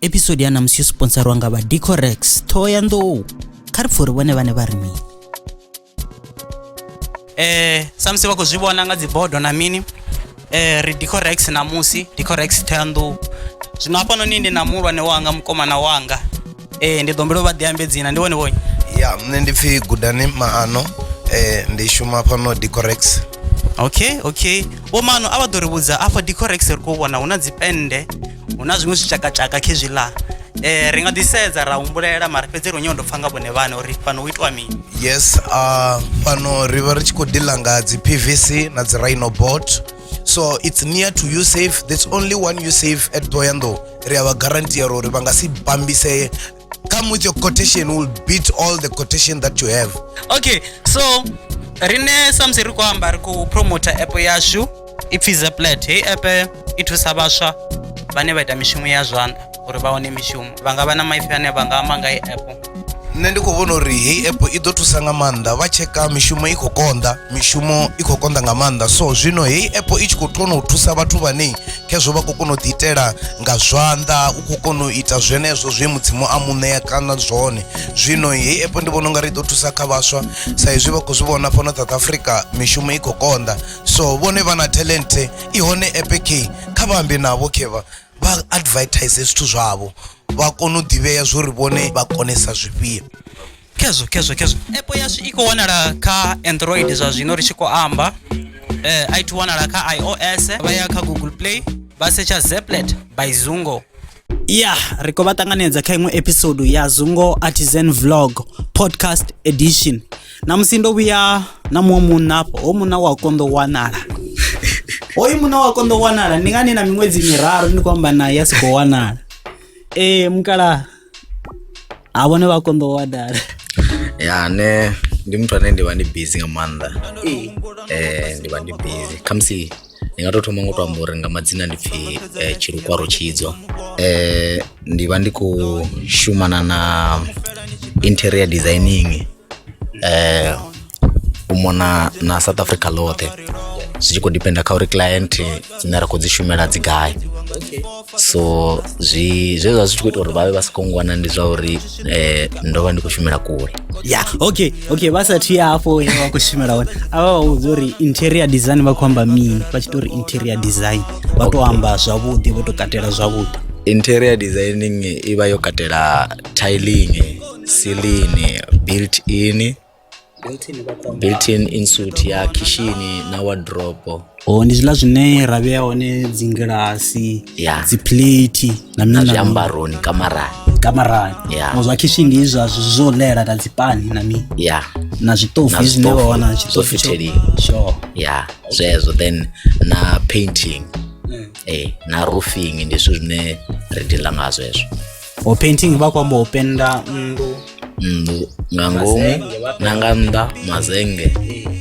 episode ya namusi yo sponsarwa nga vha decorex ṱhoho ya nḓou kha ri pfuri vhone vhane vha ri mini eh samusi vha khou zwi vhona nga dzibodo na mini eh ri decorex namusi decorex ṱhoho ya nḓou zwino hafhanoni ndi na muhulwane wanga mukomana wanga ee ndi ḓo humbela u vha ḓi ambe dzina ndi wone vhonyi ya nṋe ndi pfhi gudani maano eh, ndi shuma fhano decorex okay okay vho maano a vha ḓo ri vhudza afha decorex ri khou vhona hu na dzipennde hu na zwiṅwe zwitshakatshaka khezwiḽa eh ri nga ḓi sedza ra humbulela mara fhedzi ri nyawo ndo pfha nga vhone vhane uri fhano hu itiwa mini yes uh, fhano ri vha ri tshi khou dila nga dzi pvc na dzi rhino bot so it's near to you safe there's only one you safe at toyando ri a vha guaranteer uri vha nga si bambisee come with your quotation will beat all the quotation that you have okay so rine samusi ri khou amba ri khou promota app yashu ipfhi zeplat heyi app i thusa vhaswa vhane vha ita mishumo ya zwanḓa uri vha wane mishumo vha nga vha na maipfi ane vha nga amba nga i app nṋe ndi khou vhona uri heyi app i ḓo thusa nga maanḓa vha tsheka mishumo i khou konḓa mishumo i khou konḓa nga maanḓa so zwino heyi app i tshi khou kona u thusa vhathu vhane khezwo vha khou kona u ḓiitela nga zwanḓa u khou kona u ita zwenezwo zwe mudzimu a muṋea kana zwone zwino heyi app ndi vhona ungari i ḓo thusa kha vhaswa sa izwi vha khou zwi vhona fhano south africa mishumo i khou konḓa so vhone vha na talente i hone app khe kha vha ambe navho khe vha vha advertise zwithu zwavho vha kone u ḓivhea zwori vhone vha konesa zwifhio khezwo khezwo khezwo app yashu i khou wanala kha android zwa zwino ri tshi khou amba eh, i to wanala kha ios vha ya kha google play vha setsha zeplet by zungo ya ri khou vha ṱanganedza kha iṅwe episode ya zungo artisan vlog podcast edition na musi ndo vhuya na muṅwe munna afho ho munna wa konḓo wanala hoyu munna wa konḓo wanala ndi ngani na miṅwedzi miraru ndi khou amba naye a si khou wanala ee mukala ha vhone vha konḓo wanala ya ne ndi muthu ane ndi vha ndi busy nga maanḓa ee ndi vha ndi busy khamusi ndi nga tou thoma ngo tou amba uri nga madzina ndi pfhi eh, tshilukwaro tshidzo eh, ndi vha ndi khou shumana na interior designing eh, u mona na south africa ḽoṱhe zwi tshi khou dependa kha uri client dzine ra khou dzi shumela dzi gai so zwi zwe zwa zwi tshi khou ita uri vhavhe vha sa khou ngwana ndi zwa uri eh, ndo vha ndi khou shumela kule ya okay okay vha sa thi hafho hune vha khou shumela hone a vha vha vhudza uri interior design vha khou amba mini vha tshi to uri interior design vha to amba zwavhuḓi vho to katela zwavhuḓi interior designing i vha yo katela tiling ceiling built in built-in insuit ya khishini na wardrobe o ndi zwiḽa zwine ra vhea hone dzi ngilasi yeah. dzi plate na mina zwiambaroni kamarani kamarani yeah. o zwa khishini ndi izwa zwo lela na dzipani na mi yeah. na zwiṱofu zwine wa wana tshiṱofu sure yeah zwezwo then na painting mm. eh na roofing ndi zwithu zwine ri dila ngazwo hezwo o painting vha khou amba u penda nnḓu mm, nga ngomu Mazenge, wapi? na nga nnḓa mazenge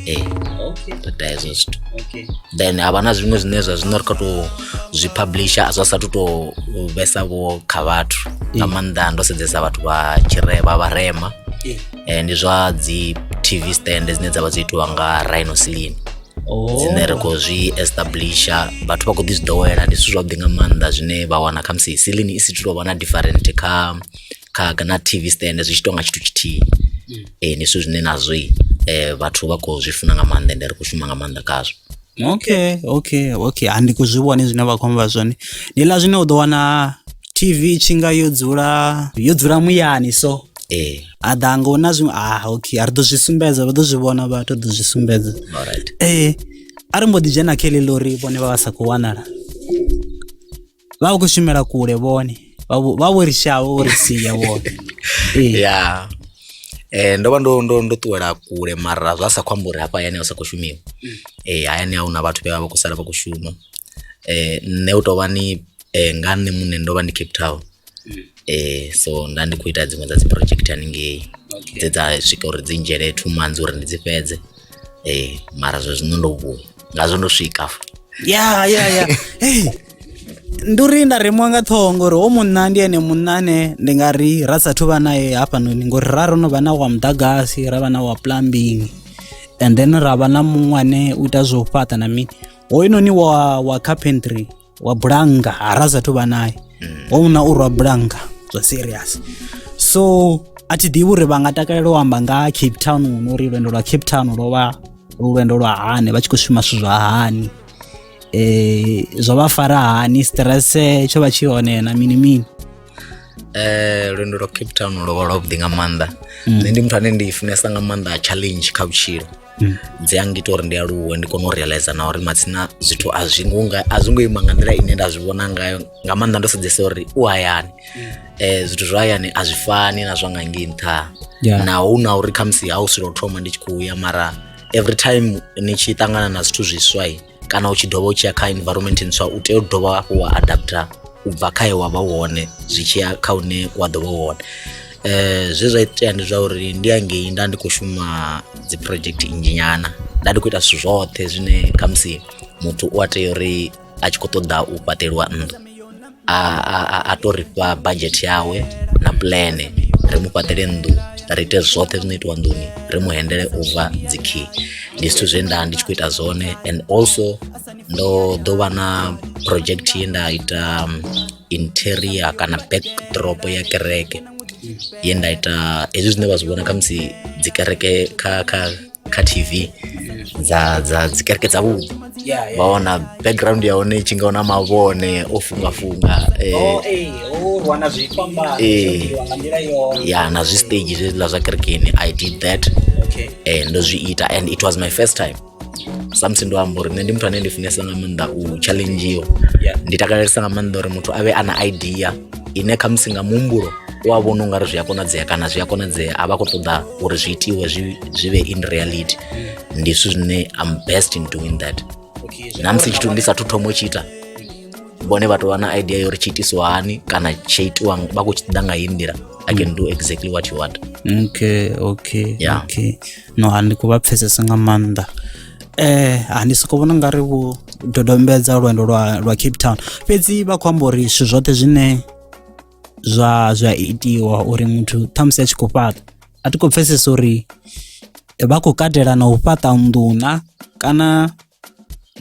Eh, ee okay, ri ita hezwo zwithu okay. then ha vha na zwiṅwe zwine zwa zwino ri kha tou zwi publisha zwa sathu tou vhesa vho kha vhathu nga maanḓa ndo sedzesa vhathu vha tshirema vharema Eh, Eh, ndi zwa dzi tv stand dzine dza vha dzo itiwa nga rhinoceline oh, dzine ri khou zwi establisha vhathu vha khou ḓi zwi ḓowela ndi zwithu zwavhuḓi nga maanḓa zwine vha wana khamusi silini i si tu tou vha na different kha kha na TV stand zwi tshi tonga tshithu tshithihi eh ndi zwithu zwine nazwo i, eh vhathu vha khou zwi funa nga maanḓa ende ri khou shuma nga maanḓa khazwo okay okay okay handi ku zwi vhone zwine vha khou amba zwone ndi ḽa zwine u ḓo wana tv i tshi nga yo dzula yo dzula muyani so eh a ḓa nga hu na zwiṅwe ah okay a ri ḓo zwi sumbedza vha ḓo zwi vhona vhathu ḓo zwi sumbedza alright ee a ri mbo ḓi dzhena kha heḽi ḽori vhone vha vha sa khou wanala vha vha khou shumela kule vhone vha vho- vha vho ri shavha vho ri sia vhone Eh, ya eh ndo vha ndo ndo ndo ṱuwela kule mara zwa sa khou amba uri hafha hayani a sa khou shumiwa eh hayani a huna vhathu vhe vha vha khou sala vha khou shuma eh nṋe u tou vha ni eh nga nṋe muṋe ndo vha ndi cape town mm. eh so nda ndi khou ita dziṅwe dza dzi project haningei dze dza swika uri dzi ndzhele two months uri ndi dzi fhedze eh mara zwe zwino ndo vhuya ngazwo ndo swika ya ya ya ndi uri nda remwa nga ṱhoho ngori o munna ndi ene munna ane ndi nga ri ra sathu vha naye hafhanoni ngori ra ro no vha na wa muḓagasi ra vha na wa plumbing and then ra vha na muṅwe ane u ita zwo fhaṱa na mini hoyunoni wa wa carpentry wa bulanga ara sa thu vha naye mm. wa una u rwa bulanga zwa serious so a thi ḓivhi uri vha nga takalela u amba nga cape town no uri lwendo lwa cape town lwo vha lwendo lwa hani vha tshi khou shuma zwithu zwa hani um zwo vha fara hani stresse tsho vha tshi hone na mini mini um lwendo lwa cape town lwo vha lwavhuḓi nga maanḓa mm. nṋe ndi muthu ane ndi funesa nga maanḓa challenge kha vhutshilo mm. dzi a ngita uri ndi aluwe ndi kone u realize na uri matsina zwithu a zwi ngo nga a zwi ngo ima nga nḓila ine nda zwi vhona ngayo nga maanḓa ndo sedzesa uri u hayani mm. eh zwithu zwa hayani a zwi fani na zwa nga ngei nṱha yeah. na hu na uri khamusi ha u silo thoma ndi tshi khou ya mara every time ni tshi ṱangana na zwithu zwiswa kana u tshi dovha u tshi ya kha environment ntswa u tea u dovha hafhu wa adapter u bva kha he wa vha u hone zwi tshi ya kha hune wa ḓo vha u hone eh zwe zwa itea ndi zwa uri ndi hangei nda ndi khou shuma dzi project nnzhi nyana nda ndi khou ita zwithu zwoṱhe zwine khamusi muthu u a tea uri a tshi khou ṱoḓa u fhaṱeliwa nnḓu a a a to ri fha budget yawe na plan ri mu fhaṱele nnḓu ri ite zwoṱhe zwino itiwa nḓuni ri mu hendele over dzi key ndi zwithu zwe nda ndi tshi khou ita zwone and also ndo ḓo vha na project ye nda ita um, interior kana backdrop ya kereke ye nda ita hezwi zwine vha zwi vhona khamusi dzi kereke kha kha kha tv dza dza dzikereke dza vhupo Yeah, yeah. vha wana background ya hone i tshi nga wana mavhone o fungafunga eh, Oh, eh, oh, rwa na zwikwambaro, Eh. zwo itiwa nga nḓila yone. ya na zwi stage zwiḽa zwa kerekeni i did that Okay. eh, ndo zwi ita and it was my first time samusi ndo amba uri nṋe ndi muthu ane ndi funesa nga maanḓa u challengiwa Yeah. ndi takalelesa nga maanḓa uri muthu a vhe a na idea ine khamusi nga muhumbulo u a vhona ungari zwi a konadzea kana zwi a konadzea a vha khou ṱoḓa uri zwi itiwe zwi vhe in reality ndi zwithu zwine am best in doing that na musi tshithu ndi sathu thoma u tshi ita vhone vha tou vha na idea yo uri tshi itiswa hani kana tshi itiwa vha khou tshi ḓa nga heyi nḓila i can do exactly what you want okay okay yeah. okay no a ndi khou vha pfhesesa nga maanḓa eh a ndi soko vhona nga ri vho dodombedza lwendo lwa lwa Cape Town fhedzi vha khou amba uri zwithu zwoṱhe zwine zwa zwa itiwa uri muthu ṱhamusi a tshi khou fhaṱa a ti khou pfhesesa uri vha khou katela na u fhaṱa nḓuna kana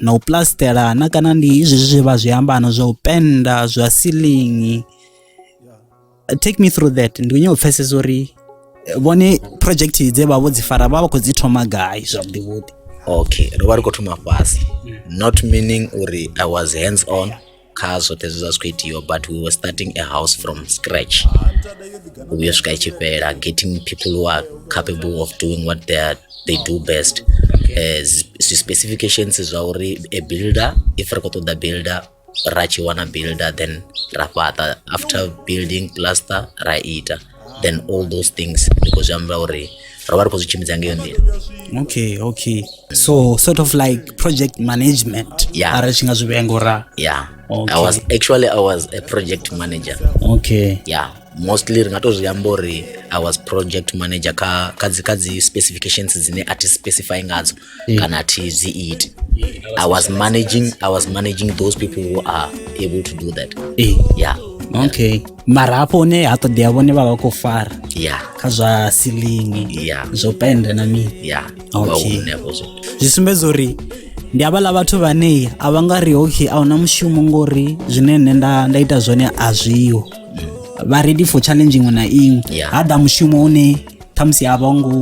na u plastelana kana ndi izwi zwe vha zwi ambana zwa u penda zwa ceiling take me through that ndi kunyo pfesesa uri eh, vhone project dze vha vho dzi fara vha vha khou dzi thoma gai zwavhuḓi vhuḓi okay ro vha ri khou thoma fhasi not meaning uri i was hands on kha zwoṱhe zwe zwa zwi khou itiwa but we were starting a house from scratch uyo swika i tshi fhela getting people who are capable of doing what they, are, they do best Eh, zwi- zwi specifications zwa uri a builder if ri khou ṱoḓa builder ra tshi wana builder then ra fhaṱa after building plaster ra ita then all those things ndi khou zwi amba uri ro vha ri khou zwi tshimbidza ngeyo nḓila okay okay so sort of like project management yeah. arali tshi nga zwi vhea ngora yeah okay. i was actually i was a project manager okay yeah mostly ri nga to zwi amba uri i was project manager kha kha dzi kha dzi specifications dzine a thi specify ngadzo mm. kana thi dzi iti i was managing i was managing those people who are able to do that mm. yeah okay mara hafho hune ha ṱoḓea vhone vha vha khou fara yeah kha zwa silingi yeah zwo penda na mini yeah okay zwi sumbedza uri ndi havhaḽa vhathu vhane a vha nga ri okay a huna mushumo ngori zwine nṋe nda nda ita zwone a zwiho mm. vha ready for challenge iṅwe na iṅwe ha ḓa mushumo une ṱhamusi a vho ngo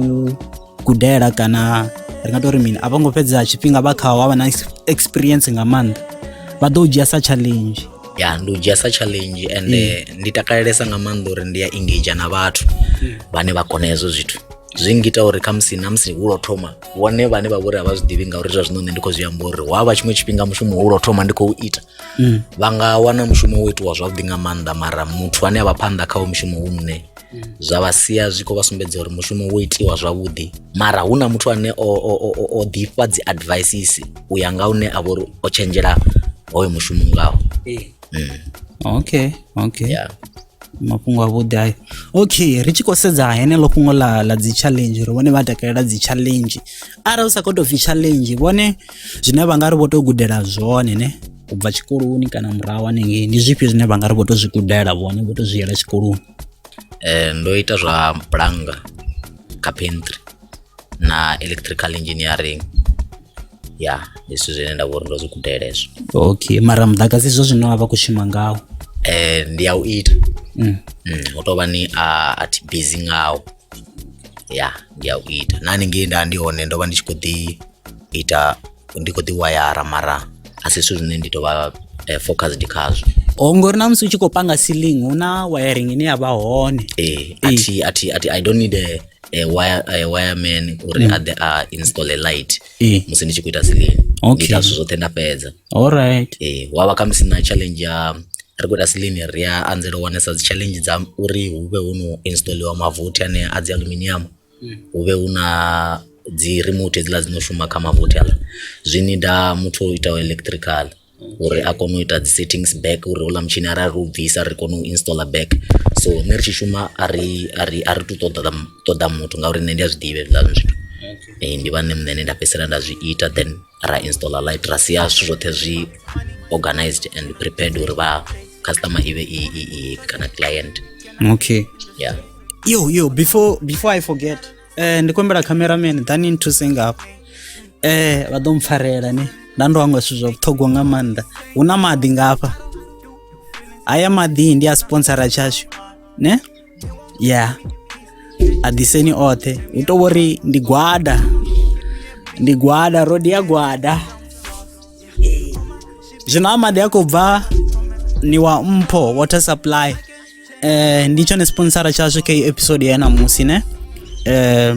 gudela kana ri nga tori mini a vho ngo fhedza tshifhinga vha khaho vha na experience nga maanḓa vha ḓo dzhia sa challenge ya ndi u dzhia sa challenge and mm. eh, ndi takalelesa nga maanḓa uri ndi ya engage na vhathu mm. vhane vha kona hezwo zwithu zwi ngita uri khamusi na musi hulo thoma vhone vhane vha vhori a vha zwi ḓivhi ngauri zwa zwino nṋe ndi khou zwi amba uri wa vha tshiṅwe tshifhinga mushumo hulo thoma ndi khou ita mm. vha nga wana mushumo wo itiwa zwavhuḓi nga maanḓa mara muthu ane a vha phanḓa khawo mushumo hu nṋe zwa vha sia zwi khou vha sumbedza uri mushumo wo itiwa zwavhuḓi mara hu na muthu ane o, o, o, o, o ḓifha dzi advices u ya nga une a vha uri o tshenzhela hoyo mushumo ngaho eh. mm. okay okay yeah mafhungo a vhuḓi ayo okay ri tshi khou sedza heneḽo fhungo ḽa ḽa dzi challenge uri vhone vha takalela dzi challenge arali u sa khou tou pfhi challenge vhone zwine vha nga ri vho tou gudela zwone ne u bva tshikoloni kana murahu hanengei ndi zwifhio zwine vha nga ri vho tou zwi gudela vhone vho tou zwi yela tshikoloni eh, ndo ita zwa bulanga carpentry na electrical engineering ya ndi zwithu zwine nda vhori ndo zwi gudela hezwo okay mara muḓagasi zwo zwine wa vha khou shuma ngawo eh, ndi ya u ita mm. mm, u tovha ni a a thi busy ngawo ya ndi ya u ita na haningei nda ndi hone ndo vha ndi tshi khou ḓi ita ndi khou ḓi wayara mara a si zwithu zwine ndi tou vha eh, focused khazwo Oh, ngori na musi u tshi khou panga ceiling hu na wiring ine ya vha hone eh, athi, athi, athi, i don't need a, a, wire, a wireman uri mm. aḓe a install a light Eh. musi ndi tshi khou ita silini Okay. ita zwithu zwoṱhe nda fhedza alright eh, wa vha khamusi na challenge ya ri khou ita silini ri a anzela u wanesa dzi challenge dza uri hu vhe hu no installiwa mavothi ane a dzi aluminium hu vhe hu na dzi remote hedziḽa dzi no shuma kha mavothi haaḽa, zwi nida muthu o itaho electrical uri a kone u ita dzi settings back uri houḽa mutshini arali ri u bvisa ri kone u installer back, so nṋe ri tshi shuma a ri a ri a ri tu ṱoḓa ṱoḓa muthu ngauri nṋe ndi a zwi ḓivha hezwiḽa zwithu ndi vha nṋe muṋe ane nda fhedzisela nda zwi ita then. ra installer light ra sia zwithu zwoṱhe zwi organized and prepared uri vha customer i vhe i i i kana client okay yeah yo yo before before i forget eh ndi kombela cameraman then into sing up eh vha ḓo mpfarela ne nda ndo hangwa zwithu zwa vhuṱhogwa nga maanḓa hu na maḓi ngafha haya maḓi ndi a sponsora tshashu ne ya a ḓiseni oṱhe hu to vhori ndi gwada ndi gwada rodi ya gwada zwino a maḓi a khou bva ni wa mpho water supply eh ndi tshone sponsora tshashu kha episode ya namusi ne eh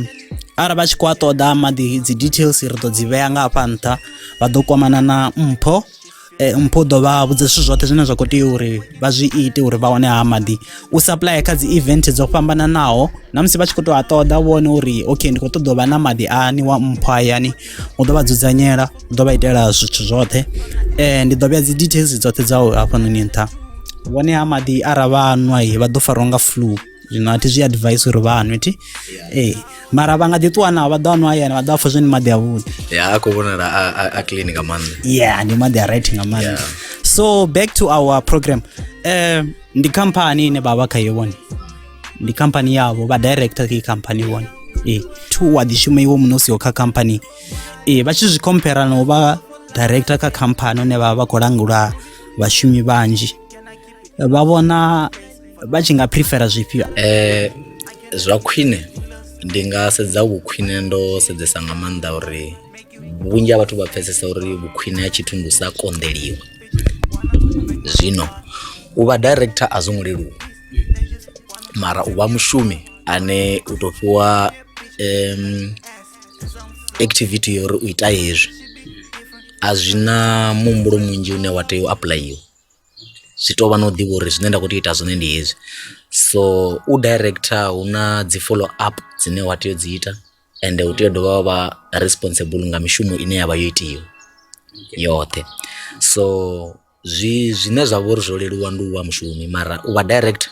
arali vha tshi khou a ṱoḓa maḓi dzi details ri ḓo dzi vhea nga hafha nṱha vha ḓo kwamana na mpho eh, mpho ḓo vha vhudza zwithu zwoṱhe zwine zwa khou tea uri vha zwi ite uri vha wane ha maḓi u supplya kha dzi event dzo fhambananaho na musi vha tshi khou tou a ṱoḓa vhone uri ok ndi khou ṱoḓa u vha na maḓi ani wa mpho hayani u ḓo vha dzudzanyela u ḓo vha itela zwithu zwoṱhe um ndi ḓo vhea dzi details dzoṱhe dza u hafhanoni nṱha vhone ha maḓi ara vha nwa vha ḓo farwa nga flu zwino a thi zwi advise uri vha nwe thi ee mara vha nga ḓi ṱuwa nao vha ḓo anwa hayani vha ḓo apfa zwone maḓi avhuḓi ya a khou vhonala a clean nga maanḓa ya ndi maḓi a right nga maanḓa so back to our program um ndi khamphani ine vha vha khayo vhone ndi khamphani yavho vha director kha khamphani vhone ee two wa ḓi shuma iwe muṋe u siho kha khamphani ee vha tshi zwi compare na u vha director kha khamphani une vha vha vha khou langula vhashumi vhanzhi vha vhona vha tshi nga prefera zwifhio eh zwa khwine ndi nga sedza vhukhwine ndo sedzesa nga maanḓa uri vhunzhi ha vhathu vha pfesesa uri vhukhwine ha tshithu ndi u sa konḓeliwa zwino u vha director a zwo ngo leluwa mara u vha mushumi ane u tou fhiwa um, activity yo uri u ita hezwi a zwi na muhumbulo munzhi une wa tea u apuḽayiwa zwi tou vha na u ḓivha uri zwine nda khou tea u ita zwone ndi hezwi so u director hu na dzi follow up dzine wa tea u dzi ita ende u tea u dovha wa vha responsible nga mishumo ine ya vha yo itiwa yoṱhe so zwi zwine zwa vha uri zwo leluwa ndi u vha mushumi mara u vha director.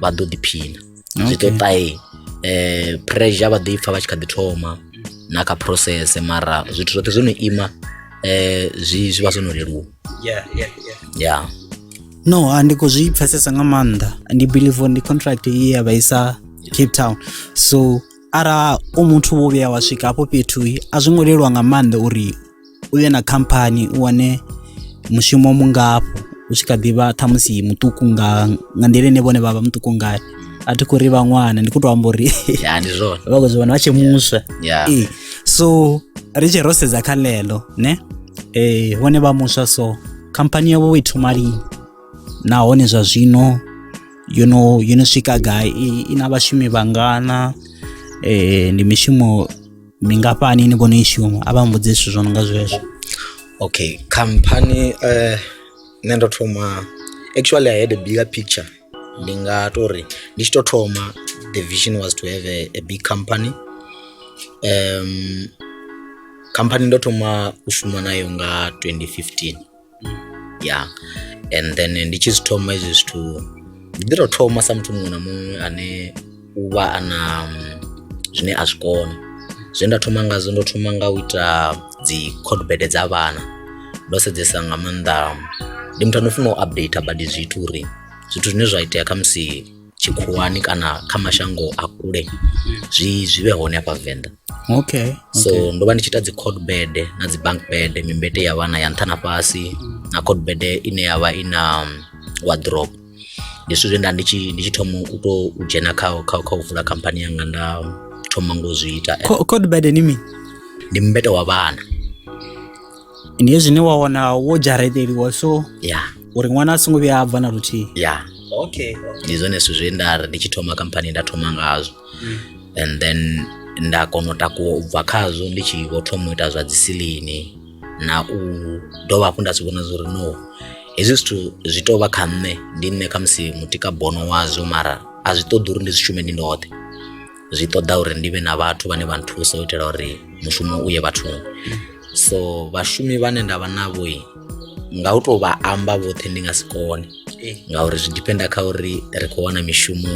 vha ḓo ḓiphina zwi ḓo ṱae eh, pressure vha ḓo i pfa vha tshi kha ḓi thoma na kha process mara zwithu zwoṱhe zwo no ima eh, zwi zwi vha zwo no leluwa yeah yeah yeah ya no a ndi khou zwi pfesesa nga maanḓa ndi believe uri ndi contract ye ya vha isa cape town so ara u muthu wo vhuya wa swika hafho fhethu a zwi ngo leluwa nga maanḓa uri u ye na khamphani u wane mushumo mungafho u tshi kha ḓivha ṱhamusi muṱuku nga nga nḓila ine vhone vha vha muṱuku ngayo a thi khou ri vhaṅwana ndi khou tou amba uri vha khou zwi vhona vha tshi muswa ee so ri tshi ro sedza kha ḽeḽo ne ee vhone vha muswa so khamphani yavho i thoma lini nahone zwa zwino yo no yo no swika gai i na vhashumi vhangana eh ndi mishumo mingafhani ni vhona i shuma a vha mbudze zwithu zwo no nga zwezwo okay khamphani eh nṋe ndo thoma actually i had a bigger picture ndi nga to ri ndi tshi to thoma the vision was to have a, a big company um khamphani ndo thoma u shuma nayo nga 2015 ya and then ndi tshi zwi thoma hezwi zwithu ndi ḓi tou thoma sa muthu muṅwe na muṅwe ane u vha a na mm, zwine a zwi kona zwe nda thoma ngazwo ndo thoma nga u ita dzi codebede dza vhana ndo sedzesa nga maanḓa ndi muthu ano funa u update badi zwithu uri zwithu zwine zwa itea khamusi tshikhuwani kana kha mashango a kule zwi zwi vhe hone hafha venḓa okay so okay. ndo vha ndi tshi ita dzi code bed na dzi bank bed mimbete ya vhana ya nṱha na fhasi na code bed ine ya vha i na um, wardrobe ndi zwithu zwe nda ndi tshi ndi tshi thoma u to u dzhena kha kha kha u vula khamphani yanga nda thoma ngo zwi ita Co- code bed ni mini ndi mbete wa vhana ndi hezwi zwine wa wana wo dzhareteliwa so ya uri ṅwana a songo vhuya a bva na luthihi ya okay ndi zwone zwithu zwe nda ri ndi tshi thoma khamphani nda thoma ngazwo and then nda kona u takuwa u bva khazwo ndi tshi vho thoma u ita zwa dzisilini na u dovha hafhu nda si vhona zwo ri no hezwi zwithu zwi tou vha kha nṋe ndi nṋe khamusi mutika bono wazwo mara a zwi ṱoḓi uri ndi zwi shume ndi ndoṱhe zwi ṱoḓa uri ndi vhe na vhathu vhane vha nthusa u itela uri mushumo u ye vhathuni so vhashumi vhane nda vha navho nga u tou vha amba vhoṱhe ndi nga si kone eh. ngauri zwi dipenda kha uri ri khou wana mishumo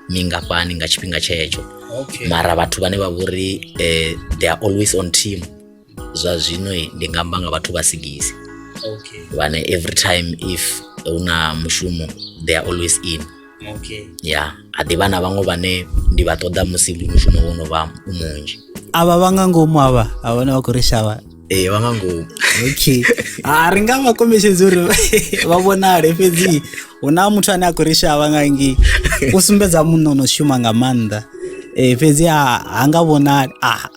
mingafhani nga tshifhinga tshetsho mara vhathu vhane vha vhori um eh, they are always on team zwa zwino ndi nga amba nga vhathu vha sigisi okay. vhane every time if hu na mushumo they are always in okay. ya yeah. a ḓivha na vhaṅwe vhane ndi vha ṱoḓa musi mushumo wo no vha u munzhi avha vha nga ngomu avha a vhone vha khou ri shavha ee vha nga ngomu okay a ri nga vha kombetshedzi uri vha vhonale fhedzi hu na muthu ane a khou ri shavha nga ngi u sumbedza munna o no shuma nga maanḓa um fhedzi ha nga vhonali a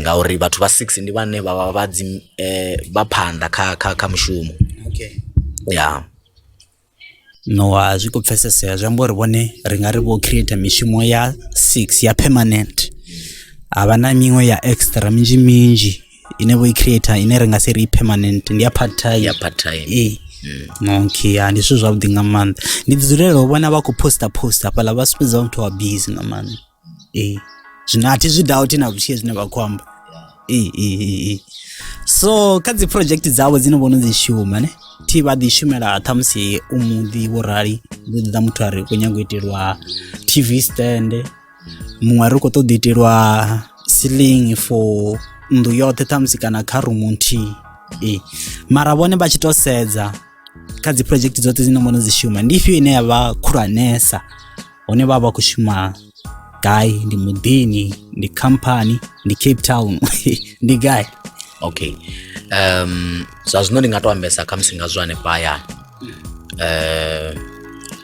ngauri vhathu vha six ndi vhane vha vha vha dzi vha phanḓa kha kha kha mushumo ya. Ṋowa zwi khou pfhesesea zwi amba uri vhone ri nga ri vho creator mishumo ya six ya permanent ha vha na miṅwe ya extra minzhi minzhi ine vho i creator ine ri nga si ri i permanent ndi ya part time ya part time ee okay ya ndi zwithu zwavhuḓi nga maanḓa ndi ḓi dzulela u vhona vha khou poster poster hafhaḽa vha sumbedza vha muthu wa busy nga maanḓa. ee zwino a thi zwi dauthi na luthihi zwine vha khou amba ee ee ee so kha dzi project dzavho dzine vhono dzi shuma ne thi vha ḓi shumela ṱhamusi u muḓi wo rali ḓo ḓa muthu a ri khou nyanga u itelwa tv stand muṅwe a ri khou ṱoḓa itelwa ceiling for nnḓu yoṱhe ṱhamusi kana kha rumu nthihi ee mara vhone vha tshi to sedza kha dzi project dzoṱhe dzine mbono dzi shuma ndi ifhio ine ya vha khulwanesa hone vha vha khou shuma gai ndi muḓini ndi khamphani ndi cape town ndi gai okay um zwa zwino ndi nga to ambesa khamusi nga zwo hanefha hayani um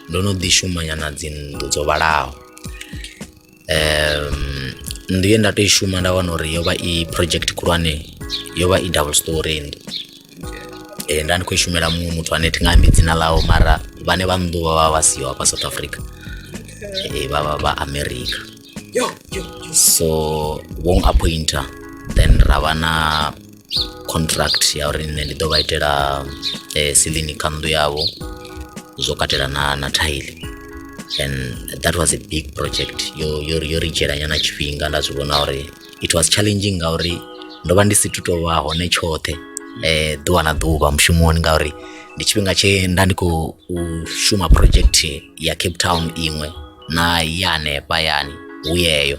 ndo no ḓi shumanyana dzinnḓu dzo vhalaho um, nnḓu ye nda tou i shuma nda wana uri yo vha i project khulwane yo vha i double story nnḓu eh, nda ndi khou i shumela muṅwe muthu ane thi nga ambi dzina ḽawo mara vhane vha nnḓu vha vha vha siho hafha south africa eh, vha vha vha america so vho appointer then ra vha na contract ya uri nṋe ndi ḓo vha itela eh, silini kha nnḓu yavho zwo katela na na thaili and that was a big project yo yo yo ri dzhiela nyana tshifhinga nda zwi vhona uri it was challenging ngauri ndo vha ndi si tu tovha hone tshoṱhe eh ḓuvha na ḓuvha mushumoni ngauri ndi tshifhinga tshe nda ndi khou u shuma project ya cape town iṅwe na ya hanefha yani hu yeyo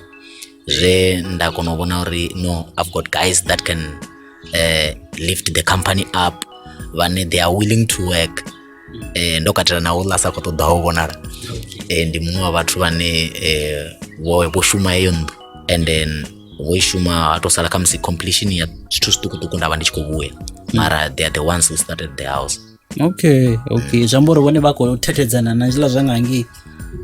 zwe nda kona u vhona uri no i've got guys that can uh, lift the company up vhane they are willing to work eh, ndo katela na uḽa sa khou ṱoḓaho u vhonala eh, ndi muṅwe wa vhathu vhane eh, vho, vho shuma heyo nnḓu and then vho i shuma ha tou sala khamusi completion ya zwithu zwiṱukuṱuku nda vha ndi tshi khou vhuya mara they are the ones who started the house okay okay zwi amba uri vhone vha khou thethedzana na zwiḽa zwa nga ngei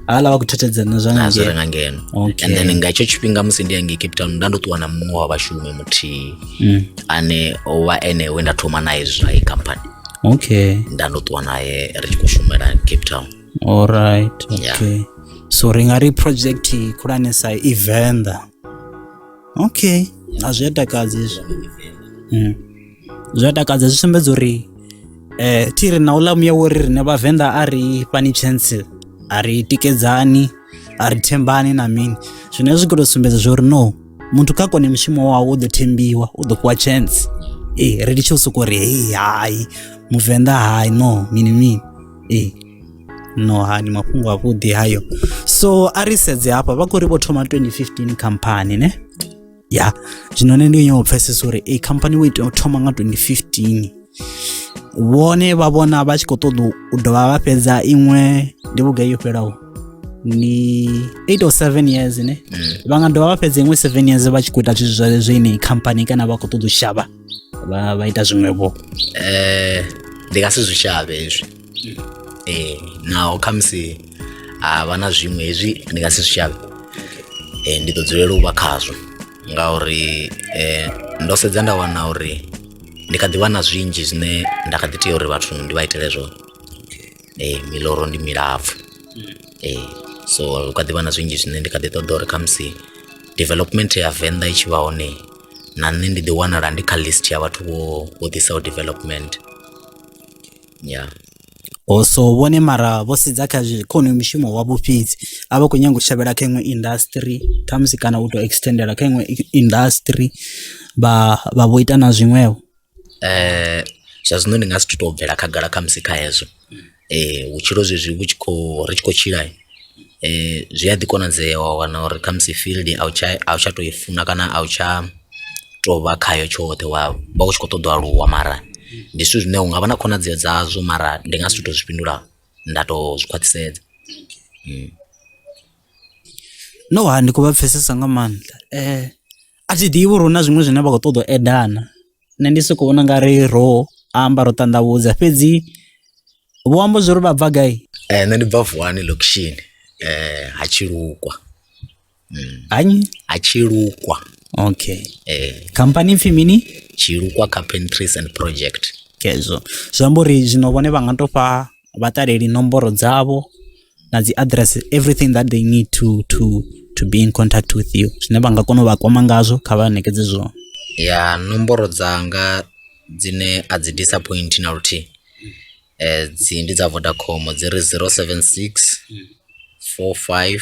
hala vha khou thethedzana na zwa nga na zwi re ngei nga ngeno Okay. and then nga hetsho tshifhinga musi ndi hangei cape town nda ndo ṱuwa na muṅwe wa vhashumi muthihi Mm, ane o vha ene we nda thoma naye zwa i company okay nda ndo ṱuwa naye ri tshi khou shumela cape town alright Yeah. okay so ri nga ri project khulwanesa i venḓa okay a zwi a takadzi izwo Mm. zwi a takadza zwi sumbedza uri eh thi ri na uḽa muya wori rine vhavenḓa a ri fhani chance a ri tikedzani a ri thembani na mini zwine zwi khou tou sumbedza zwo uri no muthu kha kone mushumo wawe u ḓo thembiwa u ḓo fhiwa chance ee ri litshe u sokou ri hei hai muvenḓa hai no mini mini ee no ha ni mafhungo avhuḓi hayo so a ri sedze hafha vha khou ri vho thoma 2015 khamphani ne ya zwino nṋe ndi nyou pfhesesa uri ei khamphani wo itea u thoma nga 2015 vhone vha vhona vha tshi khou ṱoḓa u dovha vha fhedza iṅwe ndi vhugai yo fhelaho ni 8 or 7 years ne eh. vha nga dovha vha fhedza iṅwe 7 years vha tshi khou ita zwithu zwa zwo ineyi khamphani kana vha khou ṱoḓa u shavha vha ita zwiṅwevho um ndi nga si zwi shavhe hezwi ee naho khamusi ha vha na zwiṅwe hezwi ndi nga si zwi shavhe um ndi ḓo dzulela u vha khazwo ngauri um ndo sedza nda wana uri ndi kha ḓi vha na zwinzhi zwine nda kha ḓi tea uri vhathu ndi vha itele zwone um miloro ndi milapfhu um so hu kha ḓi vha na zwinzhi zwine ndi kha ḓi ṱoḓa uri khamusi development ya venḓa i tshi vha hone na nṋe ndi ḓi wanala ndi kha list ya vhathu vho vho ḓisaho development ya o so vhone mara vho sedza kha zwi kha honoyo mushumo wavho fhedzi a vha khou nyanga u shavhela kha iṅwe industry khamusi kana u tou extendela kha iṅwe i- industry vha vha vho ita na zwiṅwevho eh zwa zwino ndi nga si tu to bvela khagala khamusi kha hezwo eh vhutshilo zwezwi vhu tshi khou ri tshi khou tshila zwi a ḓi konadzea wa wana uri kha musi field a u tsha a u tsha to i funa kana a u tsha to vha khayo tshoṱhe wa vha u tshi kho ṱoḓo aluwa mara ndi zwithu zwine unga vha na khonadzeo dzazwo mara ndi nga si tu to zwi fhindula nda to zwi khwaṱhisedza. No ha ndi khou vha pfhesesa nga maanḓa a thi ḓivhi uri hu na zwiṅwe zwine vha khou ṱoḓa u add na. nṋe ndi soko vhona nga ri ro amba ro ṱanḓavhudza fhedzi vho amba zwo ri vha bva gai eh, nṋe ndi bva vuwani location eh, ha tshilukwa mm. hanyi ha tshilukwa okay eh. khamphani pfhi mini tshilukwa carpentries and project kezwo zwi amba uri zwino vhone vha nga to fha vha ṱaleli nomboro dzavho na dzi address everything that they need to to to be in contact with you zwine vha nga kona u vha kwama ngazwo kha vha ṋekedze zwone ya nomboro dzanga dzine a dzi disappoint na luthihi eh dzi ndi dza Vodacom dzi ri 076 45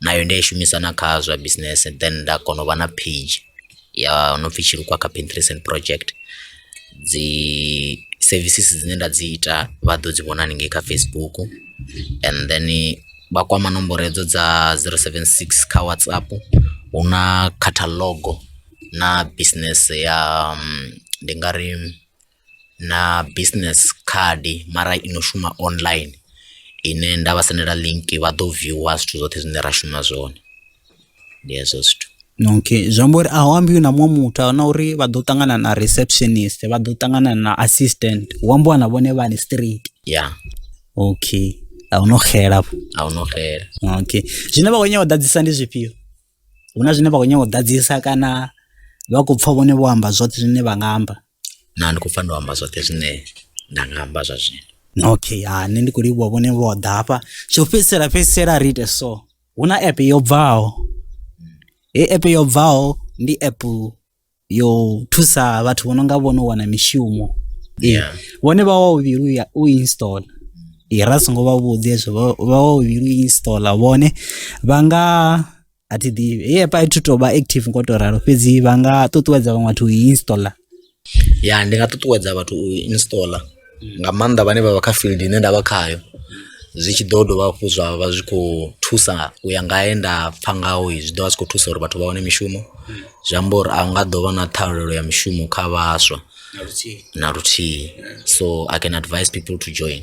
nayo ndi a i shumisa na kha zwa business then nda kona u vha na page ya no pfhi Tshilukwa Carpentry Recent Project dzi services dzine nda dzi ita vha ḓo dzi vhona haningei kha Facebook and then vha kwama nomboro hedzo dza 076 kha WhatsApp hu na catalogue na business ya ndi nga ri. na business card mara i no shuma online ine nda vha sendela link vha ḓo viewer zwithu zwoṱhe zwine ra shuma zwone ndi hezwo zwithu. Okay zwi amba uri a hu ambiwi na muṅwe muthu a na uri vha ḓo ṱangana na receptionist vha ḓo ṱangana na assistant hu ambiwa na vhone vhane straight. Ya. Okay a hu no xela afho. A hu no xela. Okay zwine vha khou nyanga u ḓadzisa ndi zwifhio? Hu na zwine vha khou nyanga u ḓadzisa kana vha khou pfha vhone vho amba zwoṱhe zwine vha nga amba? na ndi khou pfa ndo amba zwoṱhe zwine nda nga amba zwa zwino okay ha nṋe ndi khou livhuwa vhone vho ḓa hafha tsho fhedzisela fhedzisela ri ite so hu na app yo bvaho he app yo bvaho ndi app yo thusa vhathu vho no nga vhono wana mishumo Yeah. vhone vha wa uvhilu ya u install i ra songo vha vhudzi hezwo vha- vha wa uvhilu u install vhone vha nga a thi ḓivhi hei app a thi tou vha active ngo tou ralo fhedzi vha nga ṱuṱuwedza vhaṅwe vhathu u i installer ya ndi nga ṱuṱuwedza vhathu u i installer nga maanḓa vhane vha vha kha field ine nda vha khayo zwi tshi ḓo dovha hafhu zwa vha zwi khou thusa u ya nga he nda pfha ngaho zwi ḓo vha zwi khou thusa uri vhathu vha wane mishumo zwi amba uri a nga ḓo vha na ṱhahelelo ya mishumo kha vhaswa na luthihi so i can advise people to join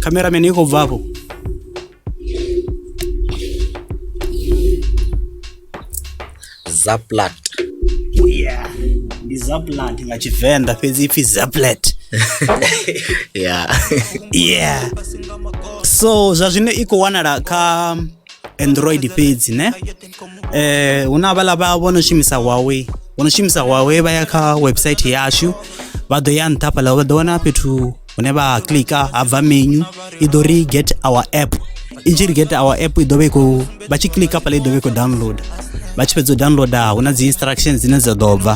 Cameraman iko bva hapo. Zaplat. Yeah. Ndi Zaplat nga Tshivenḓa fhedzi ipfi Zaplat. Yeah. Yeah. So zwa zwino i khou wanala kha android fhedzi ne eh hu na vhala vha vho no shumisa Huawei vho no shumisa Huawei vha ya kha website yashu vha ḓo ya nṱha fhala vha ḓo wana fhethu hune vha klika ha bva menu i ḓo ri get our app i tshi ri get our app i ḓo vha i khou vha tshi klika fhala i ḓo vha i khou download vha tshi fhedza u downloada hu na dzi instructions dzine dza ḓo bva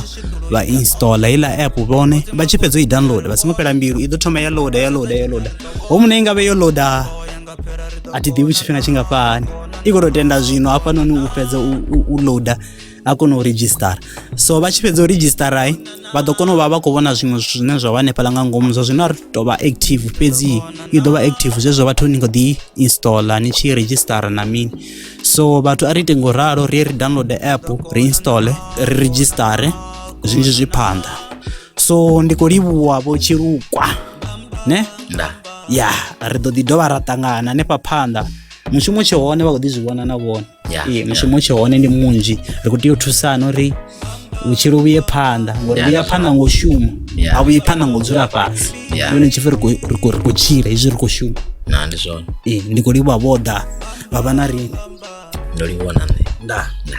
vha install heiḽa app vhone vha tshi fhedza u i download vha songo fhela mbilu i ḓo thoma ya loader ya loader ya loader ho mune i nga vhe yo loader a thi ḓivhi tshifhinga tshingafhani i khou tou tenda zwino hafhanoni u fhedza u loader a kona u redzhisitara so vha tshi fhedza u redzhisitara vha ḓo kona u vha vha khou vhona zwiṅwe zwithu zwine zwa vha hanefhaḽa nga ngomu zwa zwino a ri tou vha active fhedzi i ḓo vha active zwezwo vhathu ni khou ḓi installa ni tshi redzhisitara na mini so vhathu a ri ite ngo ralo ri ye ri download app ri installe ri redzhisitare zwinzhi zwi phanḓa so ndi khou livhuwa vho tshilukwa ne nda ya ri ḓo ḓi dovha ra ṱangana hanefha phanḓa mushumo tshe hone vha khou ḓi zwi vhona na vhone Ya, Ee, mushumo tshe hone ndi munzhi ri khou tea u thusana uri vhutshilo vhuye phanḓa ngori Ya, vhuya that's phanḓa ngo u shuma Ya. a vhuye phanḓa ngo u dzula fhasi Ya. yone tshipfi ri khou- ri khou- ri khou tshila hezwi ri khou shuma na ndi zwone Ee, ndi khou livhuwa vho ḓa vha vha na riṋe ndo livhuwa na nṋe nda nda